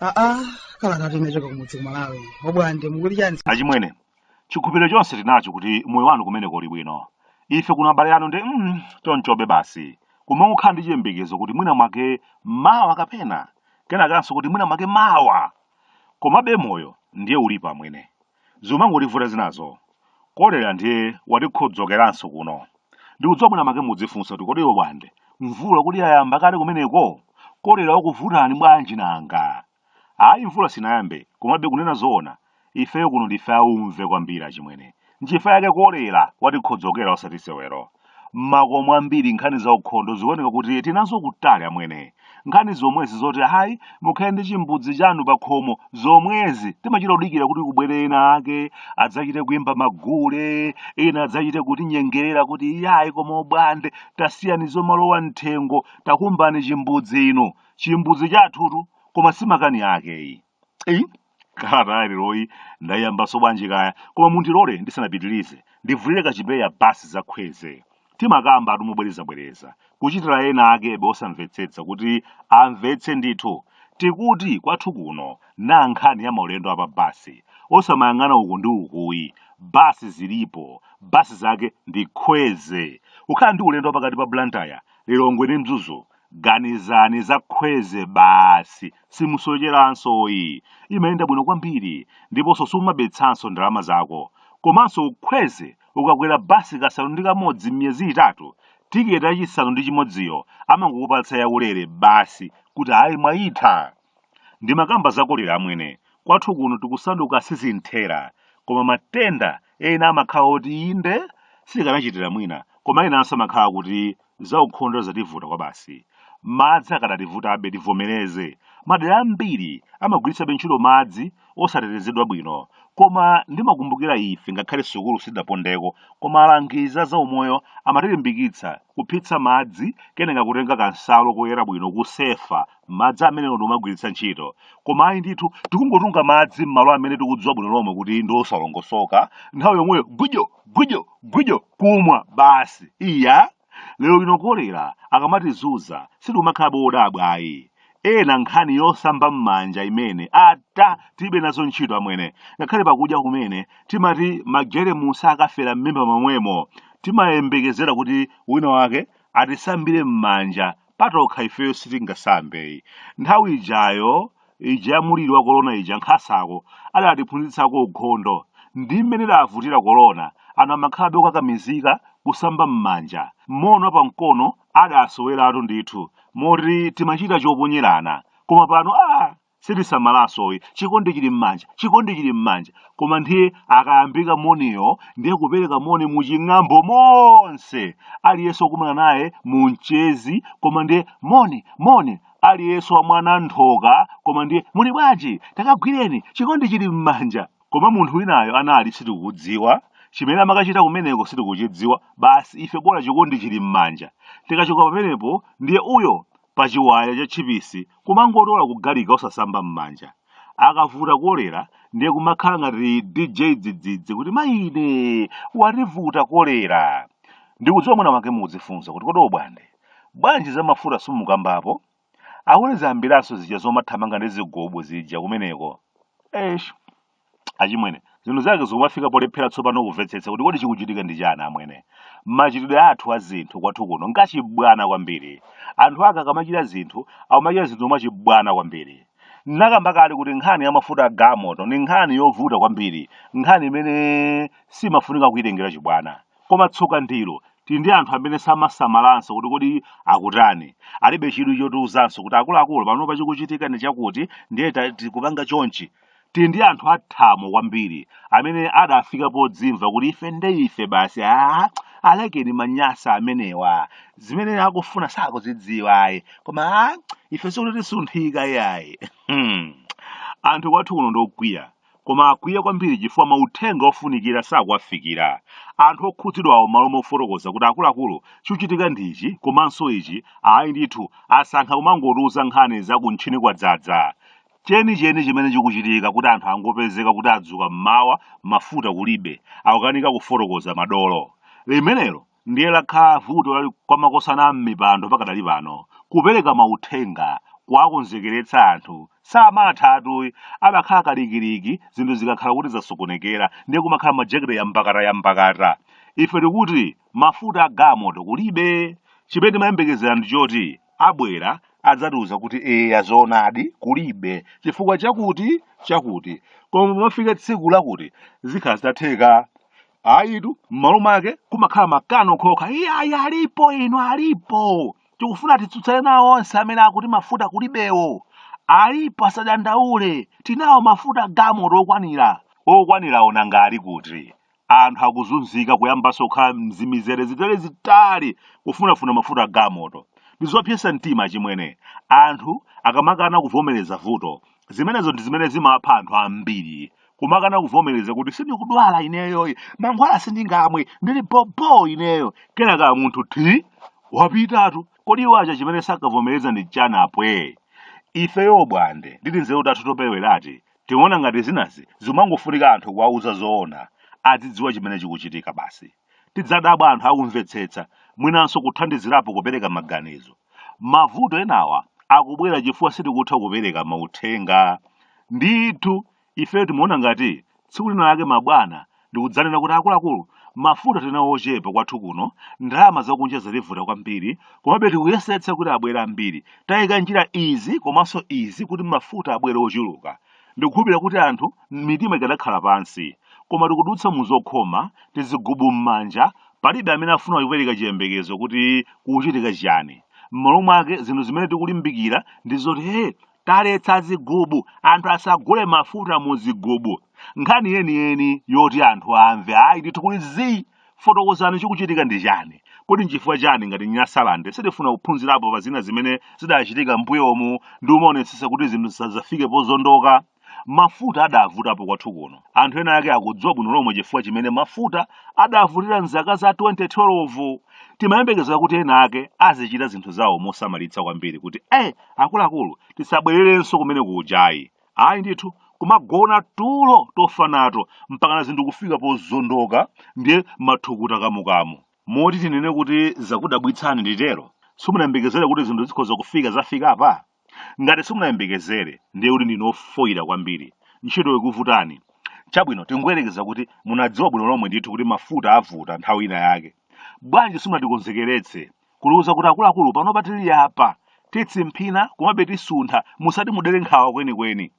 aa kala ngati unachoka kumudzi kumalawi obwande mukuti chani achimwene chikhulupiriro chonse tinacho kuti moyo wanu kumeneko uli bwino ife kuno abale anu ndi, mm, tonchobe basi koma kumangokhala ndi chiyembekezo kuti mwina mwake mawa kapena kena kanso kuti mwina mwake mawa komabe moyo ndiye ulipo amwene zimangotivuta zinazo kolera ndiye watikhodzokeranso kuno ndikudziwa mwina mwake mudzifunsa kuti kodi obwande mvula kodi yayamba kale kumeneko kolera wakuvutani bwanji nanga ayi mvula sinayambe komabe kunena zoona ifeyo kuno ndife aumve kwambiri achimwene Nchifukwa chake kolera watikhodzokera osati sewero. M'makomo ambiri nkhani za ukhondo zikuoneka kuti tili nazo kutali amwene. Nkhani zomwezi zoti ayi mukhale ndi chimbudzi chanu pa khomo zomwezi timachita kudikira kuti kubwere ena ake adzachite kuyimba magule, ena adzachite kutinyengerera kuti iyayi koma obwande tasiyani zomalowa mthengo takumbani chimbudzi inu. Chimbudzi chathutu koma si makani ake iyi. eyi kalata ya leroyi ndayiyambanso bwanji kaya koma mundilole ndisanapitirize ndivulire kachipeya basi zakhweze timakambatu mobwerezabwereza kuchitira ena akebe osamvetsetsa kuti amvetse ndithu tikuti kwathu kuno na nkhani ya maulendo apa basi osamayang'ana uku ndi ukuyi basi zilipo basi zake ndi khweze kukhala ndi ulendo wa pakati pa blantyre lilongwe ndi mzuzu Ganizani za khweze basi, simusocheranso yi. Imayenda bwino kwambiri ndiponso sumabetsanso ndalama zako. Komanso khweze ukakwera basi kasanu ndi kamodzi m'miyezi itatu, tiketi yachisanu ndi chimodziyo amangokupatsa yaulere basi kuti ayi mwayitha. ndimakamba za kolera amwene kwathu kuno tikusanduka sizimthera koma matenda ena amakhala oti inde sikanachitira mwina koma enanso amakhala kuti zaukhondo zativuta kwabasi madzi akadativutabe tivomereze madera ambiri amagwiritsabe ntchito madzi osatetezedwa bwino koma ndimakumbukira ife ngakhale sukulu sidapondeko koma alangizi azaumoyo amatilimbikitsa kuphitsa madzi keneka kutenga kansalu koyera bwino kusefa madzi amenewo ndi kumagwiritsa ntchito koma ayi ndithu tikungotunga madzi m'malo amene tikudziwa bwino lomwe kuti ndi osalongosoka nthawi yomweyo gwijo gwijo gwijo kumwa basi iya lero lino kolera akamatizuza sitikumakhalabe odabwa ayi ena nkhani yosamba m'manja imene ata tilibe nazo ntchito amwene ngakhale pakudya kumene timati majeremusi akafera m'mimba momwemo timayembekezera kuti wina wake atisambire m'manja patokha ifeyo sitingasambeyi nthawi ijayo ija ya muliri wa korona ija nkhasako idatiphunzitsako ukhondo ndi mmene idavutira korona anthu amakhalabe okakamizika kusamba m'manja moni wa pamkono adasoweratu ndithu moti timachita choponyerana koma pano a sitisamalanso ayi chikondi chili m'manja chikondi chili m'manja koma ndiye akayambika moniyo ndiye kupereka moni m'ching'ambo monse aliyense wakumana naye mu mchezi koma ndiye moni moni aliyense wa mwana nthoka koma ndiye muli bwanji takagwireni chikondi chili m'manja koma munthu winayo anali sitikudziwa chimene amakachita kumeneko sitikuchidziwa basi ife bora chikondi chili m'manja tikachoka pamenepo ndiye uyo pa chiwaya cha tchipisi kumangotola kugalikira osasamba m'manja akavuta kolera ndiye kumakhala ngati dj dzidzidzi kuti maine wativuta kolera ndikudziwa mwina mwake mukudzifunsa kuti kodi obwande bwanji za mafuta simukambapo awone zambiranso zija zomathamanga ndi zigobo zija kumeneko esh achimwene zinthu zake zikumafika polephera tsopano kumvetsetsa kuti kodi chikuchitika ndi chani amwene machitidwe athu a zinthu kwathu kuno ngachibwana kwambiri anthu ake akamachita zinthu akumachita zinthu mwachibwana kwambiri ndakamba kale kuti nkhani ya mafuta a galimoto ni nkhani yovuta kwambiri nkhani imene simafunika kuyitengera chibwana koma tsoka ndilo tili ndi anthu amene samasamalanso kuti kodi akutani alibe chidwi chotiuzanso kuti akuluakulu panopa chikuchitika ndi chakuti ndiye ta- tikupanga chonchi tili ndi anthu athamo kwambiri amene adafika podzimva kuti ife nde ife basi a alekeni manyasa amenewa zimene akufuna sakuzidziwa ayi koma ife sikuti tisunthika iyayi anthu kwathu kuno ndokwiya koma akwiya kwambiri chifukwa mauthenga ofunikira sakuwafikira anthu okhudzidwawo m'malo mofotokoza kuti akuluakulu chikuchitika ndi ichi komanso ichi ayi ndithu asankha kumangotiuza nkhani za kuntchini kwadzadza chenicheni chimene chikuchitika kuti anthu angopezeka kuti adzuka mmawa mafuta kulibe akukanika kufotokoza madolo limenelo ndiye lakhala vuto lali kwa makosana a m'mipando pakadali pano kupereka mauthenga kuwakonzekeretsa anthu samathatu ayi amakhala kalikiliki zinthu zikakhala kuti zasokonekera ndiye kumakhala majekete yambakata yambakata ife tikuti mafuta a galimoto kulibe chimene timayembekezera ndi choti abwera adzatiuze kuti eya zoonadi kulibe chifukwa chakuti chakuti koma pamafika tsiku lakuti zidzakhala zitatheka ayitu m'malo mwake kumakhala makani okhaokha iyayi alipo inu alipo tikufuna titsutsane nawo onse amene akuti mafuta kulibewo alipo asadandaule tinawo mafuta a galimoto okwanira okwanira o nanga ali kuti anthu akuzunzika kuyambanso kukhala m'mizere itali itali kufunafuna mafuta a galimoto ndi zopyetsa mtima chimene anthu akamakana kuvomereza vuto zimenezo ndi zimene zimapha anthu ambiri kumakana kuvomereza kuti sindikudwala ineyoyi mankhwala sindingamwe ndili bobo ineyo kenaka munthu thi wapitatu kodi iwo aja chimene sakavomereza ndi chani apwe ifeyo bwande ndili nzeru tathu topewerati Timaona ngati zinazi zimangofunika anthu kuwauza zoona, azidziwa chimene chikuchitika basi. Tidzadabwa anthu akumvetsetsa, mwinanso kuthandizirapo kupereka maganizo. Mavuto enawa akubwera chifukwa sitikutha kupereka mauthenga. Ndithu, ifeyo timaona ngati tsiku lina lake mabwana n'kudzanena kuti akuluakulu mafuta tili nawo ochepa kwathu kuno ndalama zakunja zativuta kwambiri komabe tikuyesetsa kuti abwere ambiri tayika njira izi komanso izi kuti mafuta abwere ochuluka ndikukhulupirira kuti anthu mitima ikadakhala pansi koma tikudutsa mu zokhoma tizigubu m'manja palibe amene afuna kupereka chiyembekezo kuti kuchitika chiyani m'malo mwake zinthu zimene tikulimbikira ndi zoti he Taletsa zigubu, anthu asagule mafuta mu zigubu. Nkhani yeniyeni yoti anthu amve. Ayi ndithu kuli zii. Fotokozani chikuchitika ndi chani. Kodi nchifukwa chani ngati Nyasalande sitifuna kuphunzirapo pa zina zimene zidachitika m'mbuyomu ndikumaonetsetsa kuti zinthu zisadzafike pozondoka? Mafuta adavutapo kwathu kuno. Anthu ena ake akudziwa bwino lomwe chifukwa chimene mafuta adavutira m'zaka za 2012. Timayembekezera kuti ena ake azichita zinthu zawo mosamalitsa kwambiri kuti eh akuluakulu tisabwererenso kumene kujayi ayi ndithu kumagona tulo tofa nato mpakana zinthu kufika pozondoka ndiye mathukuta kamukamu moti tinene kuti zakudabwitsani nditero simunayembekezere kuti zinthu zikhoza kufika zafikapa ngati simunayembekezere ndiye kuti ndinu ofoyira kwambiri ntchito ikuvutani chabwino tingoyerekeza kuti munadziwa bwino lomwe ndithu kuti mafuta avuta nthawi ina yake bwanji simunatikonzekeretse kutiuza kuti akuluakulu panopa tili apa tikutsimphina komabe tisuntha musati mudere nkhawa kwenikweni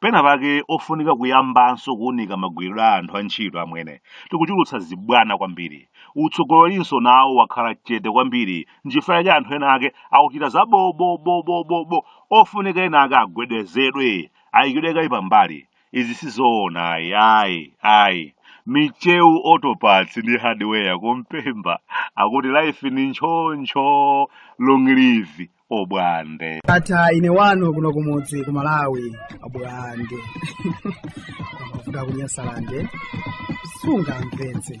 pena pake ofunika kuyambanso kuunika magwiridwe a anthu a ntchito amwene tikuchulutsa zibwana kwambiri utsogolerinso nawo wakhala chete kwambiri nchifukwa yake anthu ena ake akuchita za bobobobobobo ofunika ena ake agwedezedwe ayikidwe kaye pambali izi sizoona ayi ayi ayi micheu autoparts ndi hardware kumpemba akuti life ni ntchoncho long live obwande ata ine wanu kuno kumudzi ku malawi abwande kuda kunyasalande sunga mpenzi